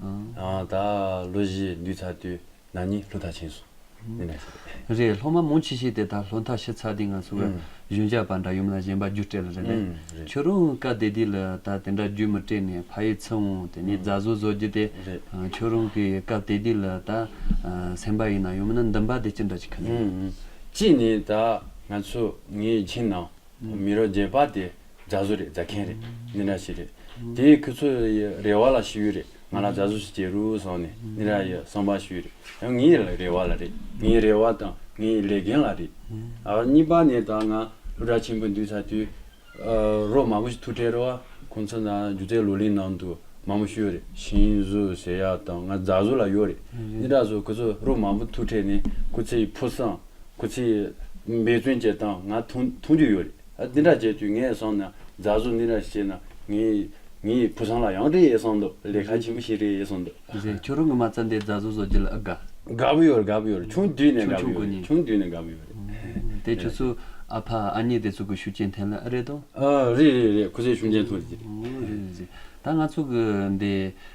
དང། ལོ་བཞི་འདུས་ཚར་དུས་ན་ནི་ལྷོ་མཐའ་ཕྱིན་སོང། མི་ནག་ཤེས་པས། རེད་ལྷོ་མ་མོ་འཆི་ཤེས་དེ་ད་ལྷོ་མཐའ་ཤི་ཚར་དུས་ང་ཚོ་གི་གཞོན་སྐྱ་པ་འདྲ་ཡུམ་ལ་ཞེན་པ་རྒྱུ་སྤྲད་ལ་རེད་པས། ཁྱོད་རང་བཀའ་སྡེ་འདི་ལ་ད་དེ་འདྲ་རྒྱུ་མི་སྤྲད་ནས་ཕ་ཡིས་ཚིག་འོང་དེ་ནས་རྫ་བཟོ་བཟོ་རྒྱུ་དེ། ཁྱོད་རང་གི་བཀའ་སྡེ་འདི་ལ་ད་སེམས་པ་ཡིན་ན་ཡོང་མིན་ན་འདུན་པ་དེ་ཅི་འདྲ་ཅིག་ཁེངས། གཅིག་ནས་ད་ང་ཚོ་ངའི་མཆན་ནང། མི་རོ་རྗེ་པ་དེ་རྫ་བཟོ་རེད་རྫ་མཁན་རེད་འདི་འདྲ་ཞིག་རེད་དེ་ཁྱོད་ཚོ་ཡི་རེ་བ་ལ་ཞུ་ཡི་རེད་ང་ལ་རྫ་བཟོ་ཞིག་བྱེད་རུག་སོང་ནས་འདི་འདྲ་ཡི་གསང་པ་ཞུ་ཡི་རེད་ཡང་ངའི་རེ་བ་ལ་རེད་ངའི་རེ་བ་དང་ངའི་ལས་འགན་ལ་རེད་ཨ་གཉིས་པ་ནས་ད་ང་ཕོ་བྲ་ཆེན་པོ་འདུས་ཚར་དུས་རོགས་མང་པོ་ཞིག་ཐུག་འཕྲད་རོགས་ཁོང་ཚོ་ནང་སྒྱུ་རྩལ་ལོ་ལིང་ནང་དུ་མང་པོ་ཞུ་ཡི་རེད་ཤིང་བཟོ་ཟེར་ཡག་དང་ང་རྫ་བཟོ་ལ་ཡོད་རེད་འདི་འདྲ་བཟོ་ཁྱོད་ཚོ་རོགས་མང་པོ་ཐུག་འཕྲད་ནས་ཁོ་ཚོའི་ཕོ་བསང། ཁོ་ཚོས་འབད་བརྩོན་བྱས་སྟངས་ང་མཐོང་རྒྱུ་ཡོད་རེད། འདི་འདྲ་བྱས་དུས་ངས་བསམ་ན་རྫ་བཟོ་འདི་འདྲ་བྱས་ན་ངའི་བུ་ཚང་ལ་ཡང་རེད་བསམ་འདུག་ལས་ཁ་ཆེན་པོ་ཞིག་རེད་བསམ་འདུག། ཟེར་ཁྱོད་རང་གི་མ་རྩ་འདི་རྫ་བཟོ་བཟོ་རྒྱུ་ལ་ཨི་དགའ། དགའ་པོ་ཡོད་རེད་དགའ་པོ་ཡོད་རེད་ཆུང་དུས་ནས་དགའ་པོ་ཡོད་རེད་ཆུང་དུས་ནས་དགའ་པོ་ཡོད་རེད། དེ་ཁྱོད་ཚོའི་ཨ་ཕ་ཨ་མྱེས་དེ་ཚོ་གི་ཤུགས་རྐྱེན་ཐེན་ལ་ཨི་རེད་དོ། རེད་རེད་རེད་ཁོ་ཚོའི་ཤུགས་རྐྱེན་ཐོན་ལ་ཨི་རེད། རེད་རེད། ད་ང་ཚོ་གི་འདི།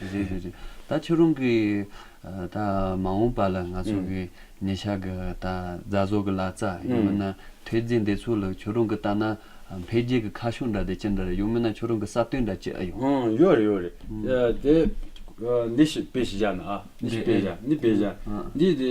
རེད་རེད་རེད་ད་ཁྱོད་རང་གི་ད་མ་འོངས་པ་ལ་ང་ཚོ་གི་ཉེ་ཆར་གི་ད་རྫ་བཟོ་གི་ལག་རྩ་ཡང་མིན་ན་ཐོས་རྫས་འདི་ཚོ་ལ་ཁྱོད་རང་གི་ལྟ་ན་འཕེལ་རྒྱས་ཀྱི་ཁ་ཕྱོགས་འདྲ་དེ་ཅི་འདྲ་རེད་ཡང་མིན་ན་ཁྱོད་རང་གི་བསམ་དོན་འདྲ་ཅི་ཨེ་ཡོད། ཨང་ཡོད་རེད་ཡོད་རེད་དེ། འདི་ཞིག་དཔེ་ཞིག་བཞག་ན་ཨ་འདི་ཞིག་དཔེ་བཞག་འདི་དཔེ་བཞག་འདི་དེ་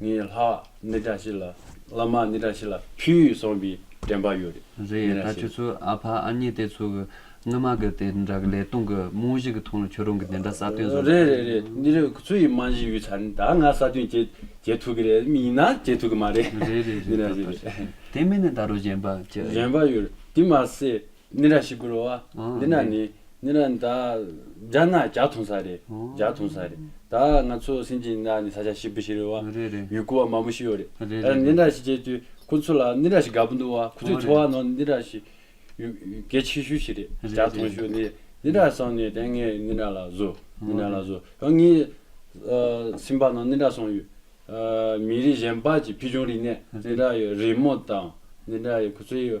ངའི་ལྷ་ནི་བཀྲ་ཤིས་ལ། བླ་མ་ནི་བཀྲ་ཤིས་ལ་ཕུལ་གསུངས་པའི་དྲན་པ་ཡོད་རེད། རེད་ད་ཁྱོད་ཚོ་ཨ་ཕ་ཨ་མྱེས་དེ་ཚོ་གི་སྔོན་མ་གི་དེ་འདྲ་གི་ལས་སྟོང་གི་རྨོངས་གཞི་གི་ཐོང་ལ་ཁྱོད་རང་གི་དེ་འདྲ་ས་སྟོན་བཟོ་རེད་རེད་རེད་འདི་རིགས་ཁོ་ཚོ་ཡི་རྨང་གཞི་ཡོད་ཆ་ནི་ད་ང་ས་སྟོན་བྱེད་བྱེད་ཐུབ་གི་རེད་མི་ཡིན་ན་བྱེད་ཐུབ་གི་མ་རེད་རེད་རེད་རེད་ད་ལྟ་ཞིག་དེ་མིན་ན་ད་རུང་གཞན་པ་ཅི་ཨེ་ཡོད། གཞན་པ་ཡོད་རེད་དེ་མ་ཟད་ནི་ར་ཞིག་བསྐུར་བ། འདི་ན་ནི། ནི་ར་ད། རྒྱ་ན་བྱ་འཐུང་ས་རེད། བྱ་འཐུང་ས་རེད། ད་ང་ཚོ་སེམས་ཀྱི་ན་ནི་ས་ཆ་ཞིག་བུ་ཞིག་རེད་བ། རེད་རེད། ཡུལ་སྐུ་བ་མང་པོ་ཞིག་ཡོད་རེད། རེད་རེད། ནི་ར་ཞིག་བྱས་དུས་ཁོ་ཚོ་ལ་ནི་ར་ཞིག་དགའ་པོ་འདུག་བ་ཁོ་ཚོའི་འཚོ་བ་ནང་ནི་ར་ཞིག། གལ་ཆེ་ཤོས་ཞིག་རེད། བྱ་འཐུང་ཞོར་ནི་ནི་ར་སོང་ནས་དེ་ངས་ནི་ར་ལ་བཟོ། ནི་ར་ལ་བཟོ། ཡང་ངའི། སེམས་པ་ནང་ནི་ར་སོང་ཡོད། མི་རིགས་གཞན་པ་ཀྱི་ཕུལ་བྱུང་རིག་གནས། ནི་ར་ཡི་རི་མོ་དང། ནི་ར་ཡི་ཁོ་ཚོའི།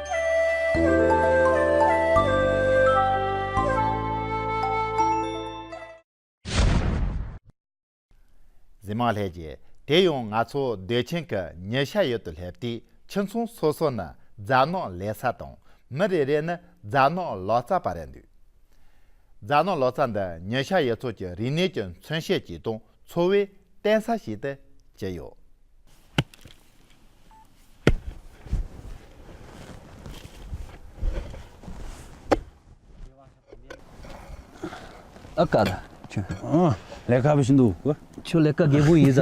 གཟིམ་མ་ལྷས་ཀྱིས་དེ་ཡང་ང་ཚོ་སྡོད་ཆེན་གྱི་ཉི་ཤར་ཡུལ་དུ་སླེབས་དུས་ཁྱིམ་ཚང་སོ་སོ་ནི་རྫ་ནག་ལས་ས་དང་མི་རེ་རེ་ནི་རྫ་ནག་ལོ་ཙཱ་བ་རེད་འདུག་རྫ་ནག་ལོ་ཙཱ་འདི་ཉི་ཤར་ཡུལ་ཚོ་ཀྱི་རིག་གནས་ཀྱི་མཚོན་བྱེད་ཅིག་དང། འཚོ་བའི་རྟེན་ས་ཞིག་ཏུ་བྱས་ཡོད། ཨ་ཀ། ཁྱོད་ལས་ཀ་བྱེད་འདུག་གོ། ཁྱོད་ལས་ཀ་རྒད་པོ་ཡིན་ཟ།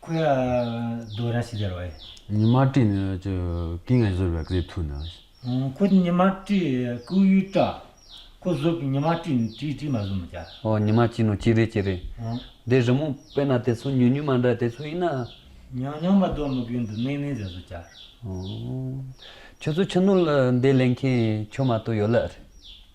ཁོ་ཡག་རྡོ་ར་ཤི་དར་བ་ཡིན། ཉི་མ་བཀྲིས་ནི་ཀྱི་ཀིང་ངས་བཟོས་པའི་ཀིརི་ཐུ་ནི། ཁོ་ནི་ཉི་མ་བཀྲིས་ཀུའུ་ཡུས་ཀྲ། ཁོ་བཟོས་པའི་ཉི་མ་བཀྲིས་ནི་ཀྲིས་ཀྲིས་མ་བཟོས་མི་ཀྱ། ཨོ་ཉི་མ་བཀྲིས་ནི་ཀྱི་རི་ཀྱི་རི། དེ་རི་མོ་དཔེ་ན་དེ་ཚོ་ཉུལ་ཉུལ་མ་འདྲ་དེ་ཚོ་ཡིན་ན། ཉང་ཉང་མ་རྡོ་མི་གིས་འདི་ནེ་ནེ་ཟེར་བཟོས་ཀྱ། ཨོ། ཁྱོད་ཚོ་ཕྱི་ནོར་ལ་འདི་ལེན་མཁན་ཁྱོད་མ་གཏོགས་ཡོད་ལ།